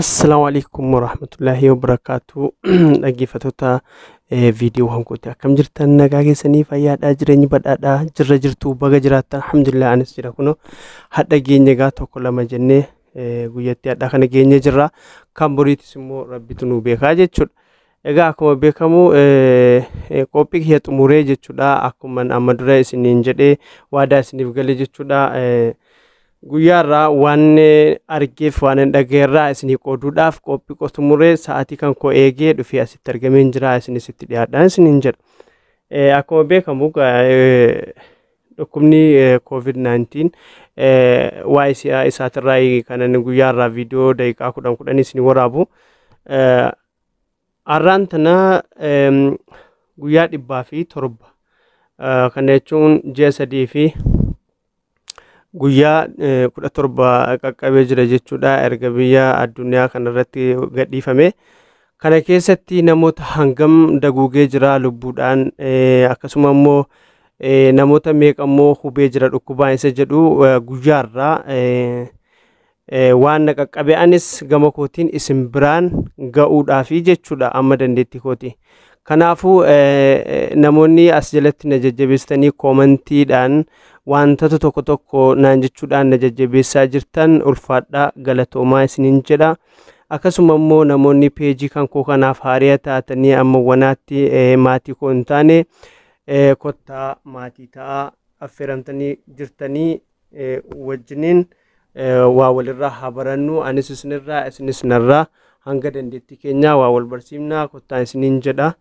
Assalamu alaikum warahmatullahi wabarakatuh dhaggeeffattoota eh, viidiyoo hankooti akkam jirtan nagaa keessanii fayyaadhaa jireenyi badhaadhaa jirra jirtu baga jiraattan alhamdulillah anis jira kuno hadha geenye gaa tokko lama jennee eh, guyyatti hadha kana geenye jirra kan boriitis immoo rabbitu nu beekaa jechuudha Egaa akkuma beekamu qophii kiyya xumuree jechuudha akkuma amma dura isiniin jedhee waadaa isiniif gale jechuudha guyyaarraa waan argeef waan hin dhaga'erraa isinii qooduudhaaf qophii koo xumuree sa'aatii kan koo eegee dhufee asitti argameen jira isinis itti dhiyaadhaan isiniin jedha. Akkuma beekamu dhukkubni COVID-19 waa'ee si'a isaatirraa kan inni guyyaarraa viidiyoo daqiiqaa kudhan kudhan isinii waraabu. Arraan tana guyyaa dhibbaa fi torba kana jechuun ji'a sadii fi guyyaa kudha torba qaqqabee jira jechuudha erga biyya addunyaa kanarratti gadhiifame. Kana keessatti namoota hangam daguugee jira lubbuudhaan akkasuma immoo namoota meeqa immoo hubee jira dhukkubaan isa jedhu guyyaarraa waan na qaqqabe anis gama kootiin isin biraan ga'uudhaafi jechuudha amma dandeettii kooti. Kanaafuu namoonni as jalatti na jajjabeessitanii koomantiidhaan wantoota tokko tokko naan jechuudhaan na jajjabeessaa jirtan ulfaadhaa galatoomaa isiniin jedha. Akkasuma immoo namoonni peejii kan koo kanaaf haariya taatanii amma wanaatti maatii koo hin taane kottaa maatii ta'aa affeeramtanii jirtanii wajjiniin waa walirraa haa barannu anis isinirraa isinis narraa hanga dandeettii keenyaa waa wal barsiifnaa kottaa isiniin jedha.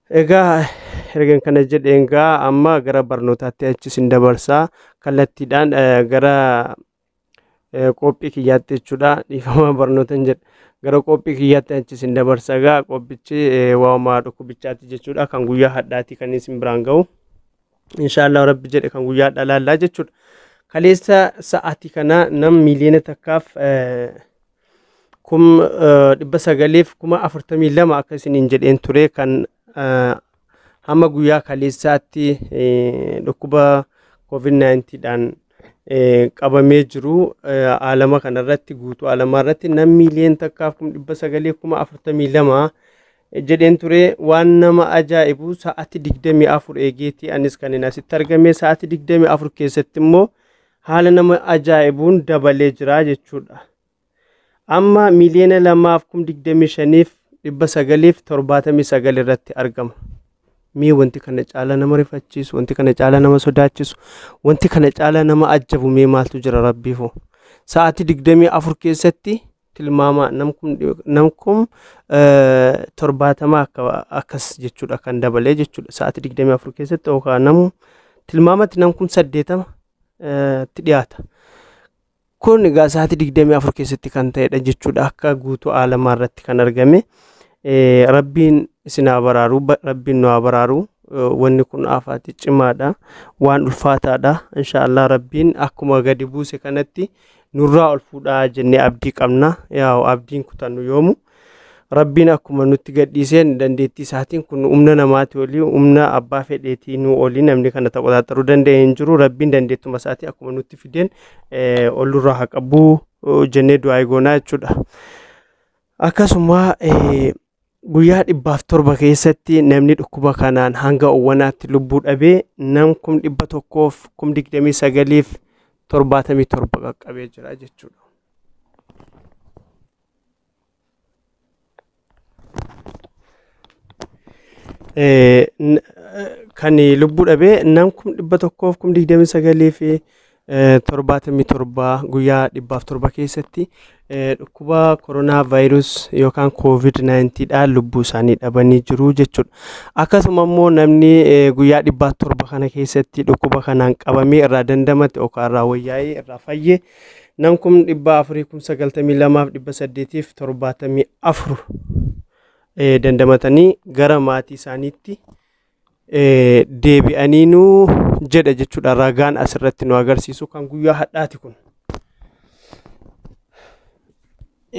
Egaa ergan kana jedheen gaa amma gara barnootaatti achi isin dabarsaa kallattiidhaan gara qophii kiyyaatti jechuudha dhiifama barnootan jedha. Gara qophii kiyyaatti achi isin dabarsa gaa qophichi waa'uma dhukkubichaatti jechuudha kan guyyaa hadhaatti kan isin biraan ga'u. inshaallah rabbi jedhe kan guyyaa dhalaallaa jechuudha kaleessa sa'aati kana nam miiliyoona takkaaf eh, kum eh, dhibba sagaleef kuma afurtamii lama akka isiniin jedheen ture kan eh, hamma guyyaa kaleessaatti eh, dhukkuba covid-19 dhaan eh, qabamee jiru eh, aalama kanarratti guutuu aalamaa irratti nam miiliyoona takkaaf kum dhibba sagalee kuma afurtamii lama jedheen ture waan nama ajaa'ibu sa'aati 24 eegeeti anis kanin asitti argame sa'aati 24 keessatti immoo haala nama ajaa'ibuun dabalee jira jechuudha. Amma miiliyoona lamaaf kum 25f 979 irratti argama. Mee wanti kana caalaa nama rifachiisu, wanti kana caalaa nama sodaachisu, wanti kana caalaa nama ajjabu mee maaltu jira rabbiifoo. Sa'aati 24 keessatti tilmaama namkum namkum torbaatama akka akkas jechuudha kan dabalee jechuudha sa'aatii digdamii afur keessatti yookaan namu tilmaamatti namkum saddeetama itti dhiyaata. Kun egaa sa'aatii digdamii afur keessatti kan ta'edha jechuudha akka guutuu aalamaa irratti kan argame. Eh, Rabbiin isin haa baraaru, ba- Rabbiin nu haa baraaru. Eh, Wanni kun afaati cimaadha, waan ulfaataadha. Inshaallah Rabbiin akkuma gadi buuse kanatti nurraa ol fuudhaa jennee abdii qabna yaa'u abdiin kutannu yoomu rabbiin akkuma nutti gadhiiseen dandeettii isaatiin kun humna namaati olii humna abbaa fedheetii nu olii namni kana taqoxaaxaruu danda'e hin jiru rabbiin dandeettuma isaatiin akkuma nutti fideen ol nurraa haa qabu jennee du'aa eegoonaa jechuudha. Akkasuma Guyyaa dhibbaaf torba keessatti namni dhukkuba kanaan hanga owwanaatti lubbuu dhabee nam kum dhibba tokkoof kum digdamii sagaliif torbaatamii torba qaqqabee jira jechuudha. Kan lubbuu dhabee nam kum dhibba tokkoof kum digdamii sagalii fi torbaatamii torba guyyaa dhibbaaf torba keessatti eh, dhukkuba koronaa vaayirus yookaan koovid 19 dhaan lubbuu isaanii dhabanii jiru jechuudha. Akkasuma immoo namni eh, guyyaa dhibbaaf torba kana keessatti dhukkuba kanaan qabamee irraa dandamate yookaan irraa wayyaa'ee irraa fayye nam kum dhibba afurii kum sagaltamii lamaaf dhibba saddeetiif torbaatamii afur eh, dandamatanii gara maatii isaaniitti deebi'aniinuu jedha jechuudha ragaan asirratti nu agarsiisu kan guyyaa hadhaati kun.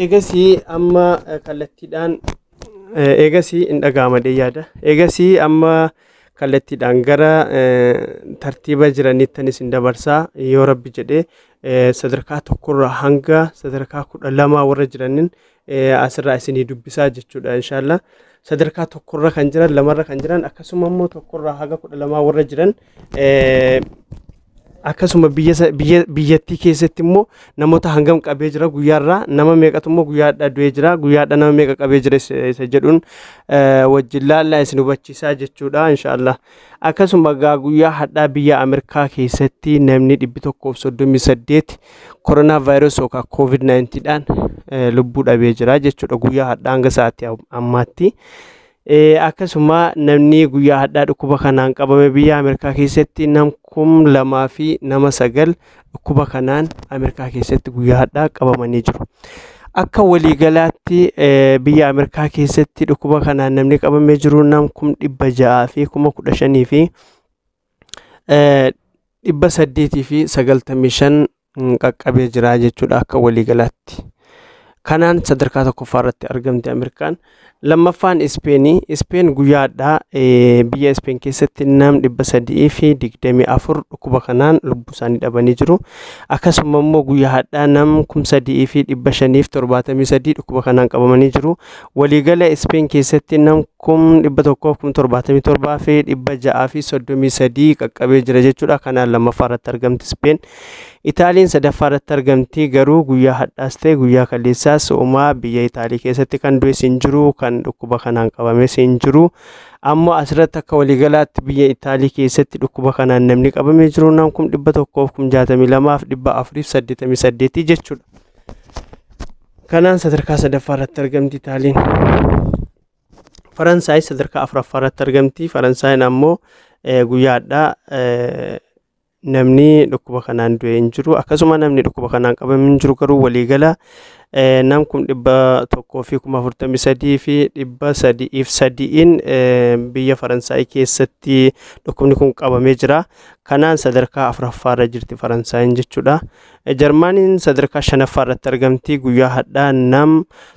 Eegasii amma kallattiidhaan eegasii hin dhaga'amadee yaada. Eegasii amma kallattiidhaan gara tartiiba jiraniittanis hin dabarsaa yoo rabbi jedhee sadarkaa tokkorraa hanga sadarkaa kudha lamaa warra jiranin asirraa isinii dubbisaa jechuudha inshaallah sadarkaa tokkorra kan jiran lamarra kan jiran akkasuma immoo tokkorraa haga kudha lamaa warra jiran akkasuma biyyattii keessatti immoo namoota hangam qabee jira guyyaarraa nama meeqatu immoo guyyaadhaa du'ee jira guyyaadhaa nama meeqa qabee jira isa jedhuun wajjin laallaa isin hubachiisaa jechuudha inshaallah Akkasuma egaa guyyaa hadhaa biyya Ameerikaa keessatti namni 138 koronaa vaayirasii yookaan COVID-19 dhaan eh, lubbuu dhabee jira jechuudha guyyaa hadhaa hanga sa'aatii am- ammaatti. Eh, Akkasuma namni guyyaa hadhaa dhukkuba kanaan qabame biyya Ameerikaa keessatti nam kum lamaa fi nama sagal dhukkuba kanaan Ameerikaa keessatti guyyaa har'aa qabamanii jiru. Akka waliigalaatti biyya Ameerikaa keessatti dhukkuba kanaan namni qabamee jiru nam kum dhibba ja'aa fi kuma kudha shanii fi dhibba saddeetii fi sagaltamii shan qaqqabee jira jechuudha akka waliigalaatti. Kanaan sadarkaa tokkoffaa irratti argamte Ameerikaan. Lammaffaan Ispeeni. Ispeen guyyaa hadhaa biyya Ispeen keessatti nam dhibba sadii fi digdamii afur dhukkuba kanaan lubbuu isaanii dhabanii jiru. Akkasuma immoo guyyaa hadhaa nam kum sadii fi dhibba shanii fi torbaatamii sadii dhukkuba kanaan qabamanii jiru. Waliigala Ispeen keessatti nam kum dhibba tokkoo kum torbaatamii torbaa fi dhibba ja'aa fi soddomii sadii qaqqabee jira jechuudha. Kanaan lammaffaa irratti argamti Ispeen. Itaaliin sadaffaa irratti argamti garuu guyyaa hadhaas ta'e guyyaa kaleessaas uumaa biyya Itaalii keessatti kan du'es hin jiru kan dhukkuba kanaan qabames hin jiru. Ammoo asirratti akka waliigalaatti biyya Itaalii keessatti dhukkuba kanaan namni qabamee jiru nam kum dhibba tokkoof kum jaatamii lamaaf dhibba afuriif saddeetamii saddeetii jechuudha. Kanaan sadarkaa sadaffaa irratti argamti Itaaliin. Faransaay sadarkaa afuraffaa irratti argamti. Faransaayeen ammoo guyyaadhaa namni dhukkuba kanaan du'e hin jiru akkasuma namni dhukkuba kanaan qabame hin jiru garuu waliigala eh, nam kum dhibba tokkoo fi kuma afurtamii sadii fi dhibba sadi'iif sadi'iin eh, biyya faransaay keessatti dhukkubni kun qabamee jira kanaan sadarkaa afuraffaarra jirti faransaayin jechuudha Eh, jarmaaniin sadarkaa shanaffaarratti argamti guyyaa hadhaa nam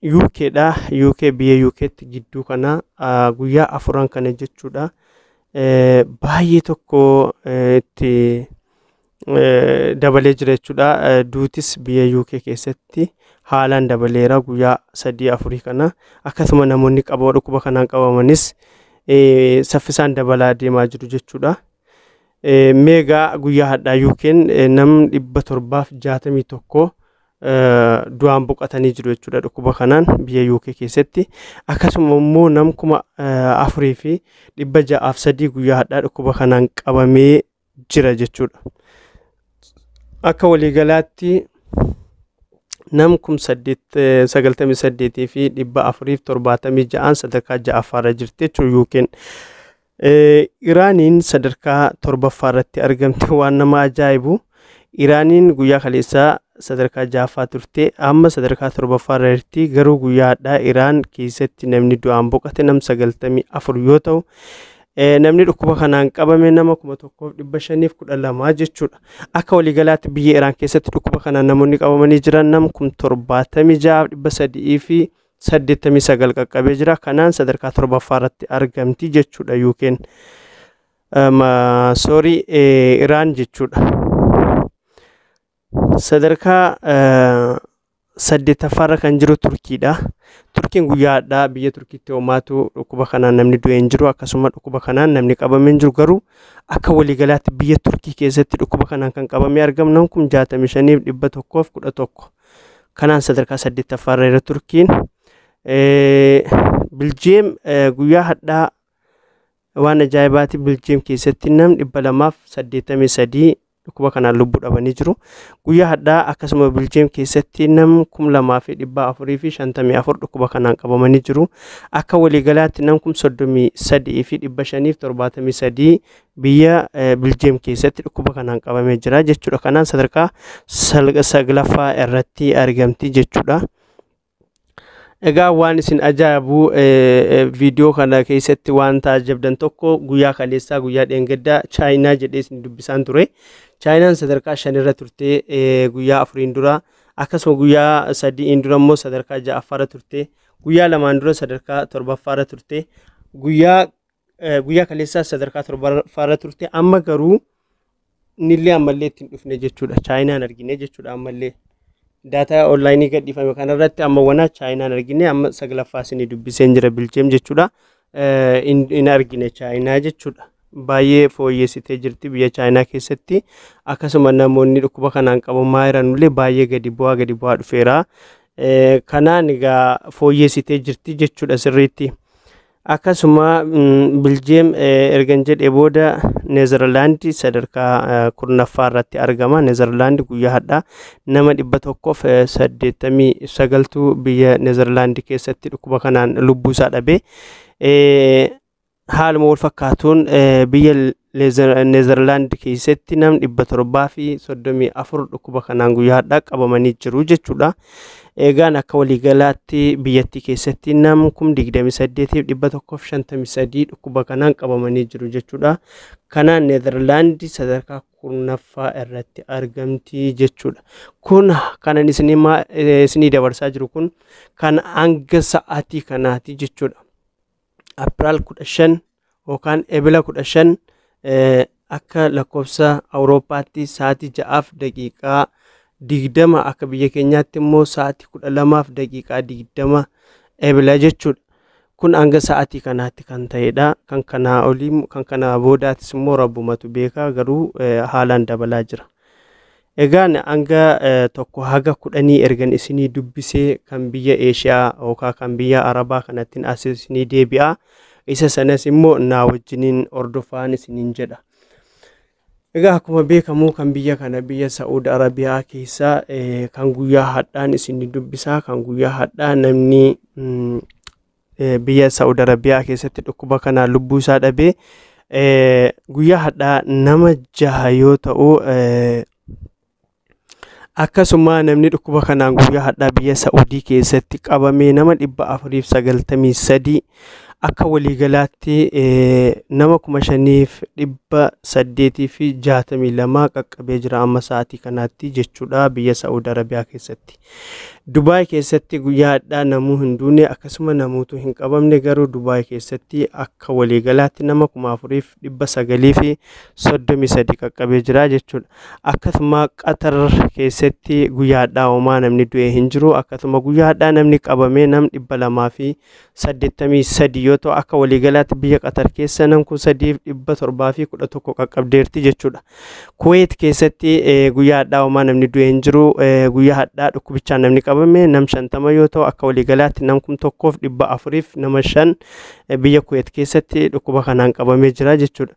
UK dha. UK biyya UKtti gidduu kana guyyaa afuran kana jechuudha. Baay'ee tokko itti dabalee jira jechuudha. Duutis biyya UK keessatti haalaan dabaleera guyyaa sadii afurii kana. Akkasuma namoonni qaba dhukkuba kanaan qabamanis saffisaan dabalaa deemaa jiru jechuudha. Meegaa guyyaa hadhaa UK'n nam dhibba torbaaf jaatamii tokko du'aan boqatanii jiru jechuudha dhukkuba kanaan biyya UK keessatti akkasuma immoo nam kuma afurii fi dhibba ja'aaf sadii guyyaa hadhaa dhukkuba kanaan qabamee jira jechuudha. Akka waliigalaatti nam kum sagaltamii saddeetii fi dhibba afuriif torbaatamii ja'aan sadarkaa ja'affaarra jirti jechuudha UK'n. Iraaniin sadarkaa torbaffaa irratti argamte waan nama ajaa'ibu. Iraaniin guyyaa kaleessaa sadarkaa ja'affaa turte amma sadarkaa torbaffaa irra jirti garuu guyyaa hadhaa Iraan keessatti namni du'aan boqate nam sagaltamii afur yoo ta'u namni dhukkuba kanaan qabame nama kuma tokkoof dhibba shaniif kudha lamaa jechuudha. Akka waliigalaatti biyya Iraan keessatti dhukkuba kanaan namoonni qabamanii jiran nam kum torbaatamii ja'aaf dhibba sadii fi 89 qaqqabee jira. Kanaan sadarkaa torbaffaa irratti argamti jechuudha UK'n. Soorii Iraan jechuudha. Sadarkaa saddeettaffaarra kan jiru Turkiidha. Turkiin guyyaa hadhaa biyya Turkiitti hoomaatu dhukkuba kanaan namni du'e hin jiru akkasuma dhukkuba kanaan namni qabame hin jiru garuu akka waliigalaatti biyya Turkii keessatti dhukkuba kanaan kan qabamee argamnan kun 65 fi 111 Kanaan sadarkaa saddeettaffaa irra jira Turkiin. Biljeem guyyaa hadhaa waan ajaa'ibaati Biljeem keessatti nam dhibba lamaaf saddeettamii sadii dhukkuba kanaan lubbuu dhabanii jiru. Guyyaa hadhaa akkasuma Biljeem keessatti nam kum lamaa fi dhibba afurii fi shantamii afur dhukkuba kanaan qabamanii jiru. Akka waliigalaatti nam kum soddomii sadii fi dhibba shaniif torbaatamii sadii biyya Biljeem keessatti dhukkuba kanaan qabamee jira jechuudha. Kanaan sadarkaa saglaffaa irratti argamti jechuudha. Egaa waan isin ajaa'ibu viidiyoo kana keessatti waan taajabdan tokko guyyaa kaleessaa guyyaa dheengaddaa chaayinaa jedhee isin dubbisaan ture. Chaayinaan sadarkaa shanirra turte guyyaa afuriin dura akkasuma guyyaa sadiin dura immoo sadarkaa ja'affaarra turte guyyaa lamaan dura sadarkaa torbaffaarra turte guyyaa Eh, Guyyaa kaleessaas sadarkaa torbaffaarra turte amma garuu nillee ammallee ittiin dhufne jechuudha. Chaayinaan argine jechuudha ammallee. Daataa onlaayinii gadhiifame kanarratti amma wana chaayinaan argine amma saglaffaa isinii dubbiseen jira bilcheem jechuudha. Eh, hin hin argine chaayinaa jechuudha. Baay'ee fooyyessitee jirti biyya chaayinaa keessatti akkasuma namoonni dhukkuba kanaan qabamaa jiranullee baay'ee gadi bu'aa gadi bu'aa dhufeera. Eh, Kanaan egaa fooyyessitee jirti jechuudha sirriitti. Akkasuma Biljeem ergan jedhe booda Neezerlaandi sadarkaa kurnaffaa irratti argama. Neezerlaandi guyyaa hadhaa nama dhibba tokkoof saddeettamii sagaltu biyya Neezerlaandi keessatti dhukkuba kanaan lubbuu isaa dhabe. Haaluma wal fakkaatuun biyya Neezerlaand keessatti nam dhibba torbaa fi soddomii afur dhukkuba kanaan guyyaa har'aa qabamanii jiru jechuudha. Eegaan akka waliigalaatti biyyattii keessatti nam kum digdami saddeetiif dhibba tokkoof shantamii sadii dhukkuba kanaan qabamanii jiru jechuudha. Kanaan Neezerlaand sadarkaa kurnaffaa irratti argamti jechuudha. Kun kanan isinii dabarsaa jiru kun kan hanga sa'aatii kanaati jechuudha. April 15 yookaan Ebila 15 eh, akka lakkoofsa Awurooppaatti sa'aatii 6f daqiiqaa 20 akka biyya keenyaatti immoo sa'aatii 12f daqiiqaa 20 Ebila jechuudha. Kun hanga sa'aatii kanaatti kan ta'edha. Kan kanaa olii kan kanaa boodaatis immoo rabbumatu beeka garuu eh, haalaan dabalaa jira. Egaan hanga tokko haga kudhanii ergan isinii dubbisee kan biyya Eeshiyaa yookaan kan biyya Arabaa kanattiin as isinii deebi'a. Isa sanas immoo naa wajjiniin hordofaan isiniin jedha. Egaa akkuma beekamu kan biyya kana biyya Sa'uud Arabiyaa keessa kan guyyaa hadhaan isinii dubbisaa kan guyyaa hadhaa namni biyya Saa'ud Arabiyaa keessatti dhukkuba kanaan lubbuu isaa dhabe guyyaa hadhaa nama jaha yoo ta'u akkasuma namni dhukkuba kanaan guyyaa hadhaa biyya Saa'udii keessatti qabame nama dhibba afuriif sagaltamii sadii akka waliigalaatti nama kuma shaniif dhibba saddeetii fi jaatamii lama qaqqabee jira amma sa'aatii kanaatti jechuudha biyya Saa'ud Arabiyaa keessatti. Dubaay keessatti guyyaa hadhaa namuu hin duune akkasuma namuutu hin qabamne garuu Dubaay keessatti akka waliigalaatti nama kuma afuriif dhibba sagalii fi soddomii sadi qaqqabee jira jechuudha. Akkasuma Qatar keessatti guyyaa hadhaa homaa namni du'e hin jiru akkasuma guyyaa hadhaa namni qabamee nam dhibba lamaa fi 83 yoo ta'u akka waliigalaatti biyya Qatar keessa nam kun 3,711 qaqqabdeerti jechuudha. Kuweet keessatti guyyaa hadhaa homaa namni du'e hin jiru. Guyyaa hadhaa dhukkubichaan namni qabame nam 50 yoo ta'u akka waliigalaatti nam kun tokkoof 400f nama 5 biyya Kuweet keessatti dhukkuba kanaan qabamee jira jechuudha.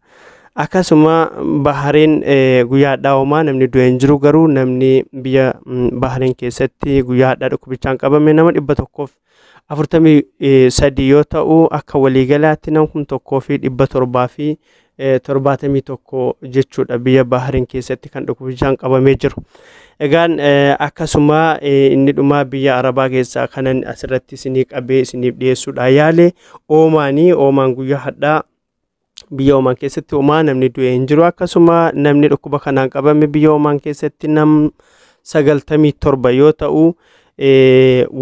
Akkasuma Bahareen guyyaa hadhaa homaa namni du'e hin jiru garuu namni biyya Bahareen keessatti guyyaa hadhaa dhukkubichaan qabame nama 100f 43 yoo ta'u akka waliigalaatti nam kum tokkoo fi dhibba torbaa fi eh, torbaatamii tokko jechuudha biyya Baahariin keessatti kan dhukkubichaan qabamee jiru. Egaan eh, akkasuma eh, inni dhumaa biyya Arabaa keessaa kanan asirratti isinii qabee isiniif dhiyeessuudha yaale oomaanii oomaan guyyaa hadhaa biyya Omaan keessatti homaa namni du'e hin jiru. Akkasuma namni dhukkuba kanaan qabame biyya Omaan keessatti nam sagaltamii torba yoo ta'u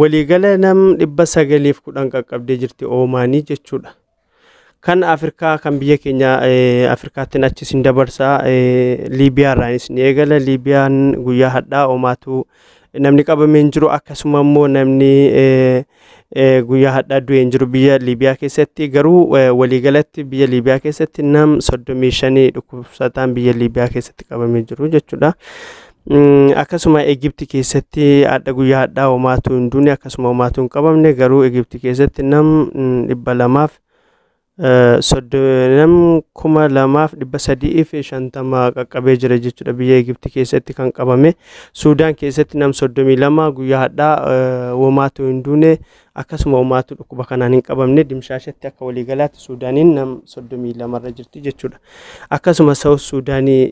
waliigala nam dhibba sagaliif kudhan qaqqabdee jirti Omaanii jechuudha. Kan Afrikaa kan biyya keenya Afrikaattiin achis hin dabarsa Liibiyaarraanis ni eegala. Liibiyaan guyyaa hadhaa Omaatu namni qabame hin jiru akkasuma immoo namni guyyaa hadhaa du'e hin jiru biyya Liibiyaa keessatti garuu waliigalatti biyya Liibiyaa keessatti nam soddomii shanii dhukkubsataan biyya Liibiyaa keessatti qabamee jiru jechuudha. Akkasuma Egipti keessatti hadha guyyaa hadhaa homaatu hin duune akkasuma homaatu hin qabamne garuu Egipti keessatti nam dhibba lamaaf Soddonam kuma lamaaf dhibba sadii fi shantama qaqqabee jira jechuudha biyya Egipti keessatti kan qabame. Suudaan keessatti nam soddomii lama guyyaa hadhaa womaatu hin duune akkasuma womaatu dhukkuba kanaan hin qabamne dimshaashatti akka waliigalaatti Suudaaniin nam soddomii lamarra jirti jechuudha. Akkasuma Saawus Suudaanii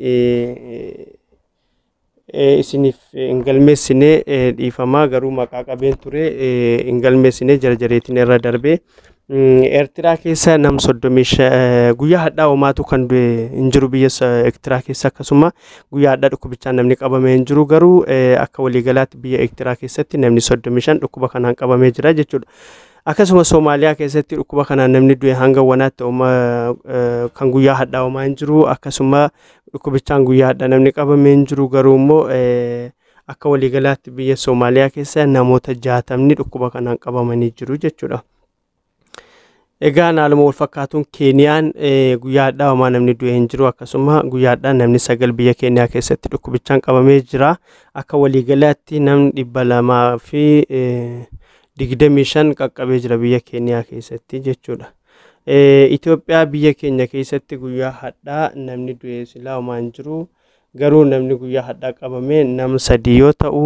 isiniif hin galmeessine dhiifamaa garuu maqaa qabeen ture hin galmeessine jarjareetiin irra darbee. Eertiraa keessa nam soddomii guyyaa hadhaa homaatu kan du'e hin jiru biyya Eertiraa keessa akkasuma guyyaa hadhaa dhukkubichaan namni qabame hin jiru garuu akka waliigalaatti biyya Eertiraa keessatti namni soddomii shan dhukkuba kanaan qabamee jira jechuudha. Akkasuma Soomaaliyaa keessatti dhukkuba kanaan namni du'e hanga wanaatti kan guyyaa hadhaa homaa hin jiru akkasuma. Dhukkubichaan guyyaa hadha namni qabamee hin jiru garuu immoo akka waliigalaatti biyya Soomaaliyaa keessa namoota jaatamni dhukkuba kanaan qabamanii jiru jechuudha. Egaa haaluma wal fakkaatuun Keeniyaan guyyaa hadhaa homaa namni du'e hin jiru akkasuma guyyaa hadhaa namni sagal biyya Keeniyaa keessatti dhukkubichaan qabamee jira. Akka waliigalaatti namni dhibba lamaa fi digdamii shan qaqqabee jira biyya Keeniyaa keessatti jechuudha. Itoophiyaa biyya keenya keessatti guyyaa hadhaa namni du'e silaa homaan jiru garuu namni guyyaa hadhaa qabame nam sadii yoo ta'u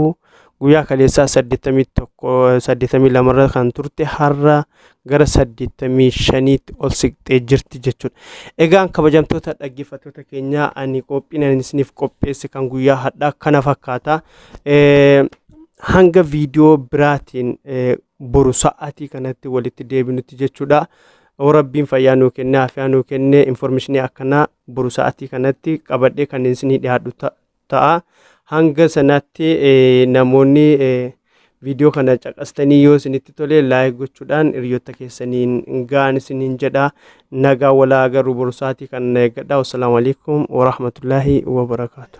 guyyaa kaleessaa saddeettamii tokko saddeettamii lamarra kan turte har'a gara saddeettamii shaniitti ol siqxee jirti jechuudha. Egaan kabajamtoota dhaggeeffattoota keenyaa ani qophiin ani isiniif qopheesse kan guyyaa hadhaa kana fakkaata. Hanga viidiyoo biraatiin boru sa'aatii kanatti walitti deebinutti jechuudha. Yoo rabbiin fayyaa nuu kenne afiyaa nuu kenne informeeshinii akkanaa boru sa'aatii kanatti qabadhee kan isinii dhiyaadhu ta- ta'a. Hanga sanaatti eh, namoonni eh, viidiyoo kana caqastanii yoo isinitti tole laayik gochuudhaan hiriyoota keessaniin ga'aa isiniin jedha. Nagaa walaa agarru boru sa'aatii kana eeggadha. Wassalaamu alaikum warahmatullaahi wabarakaatu.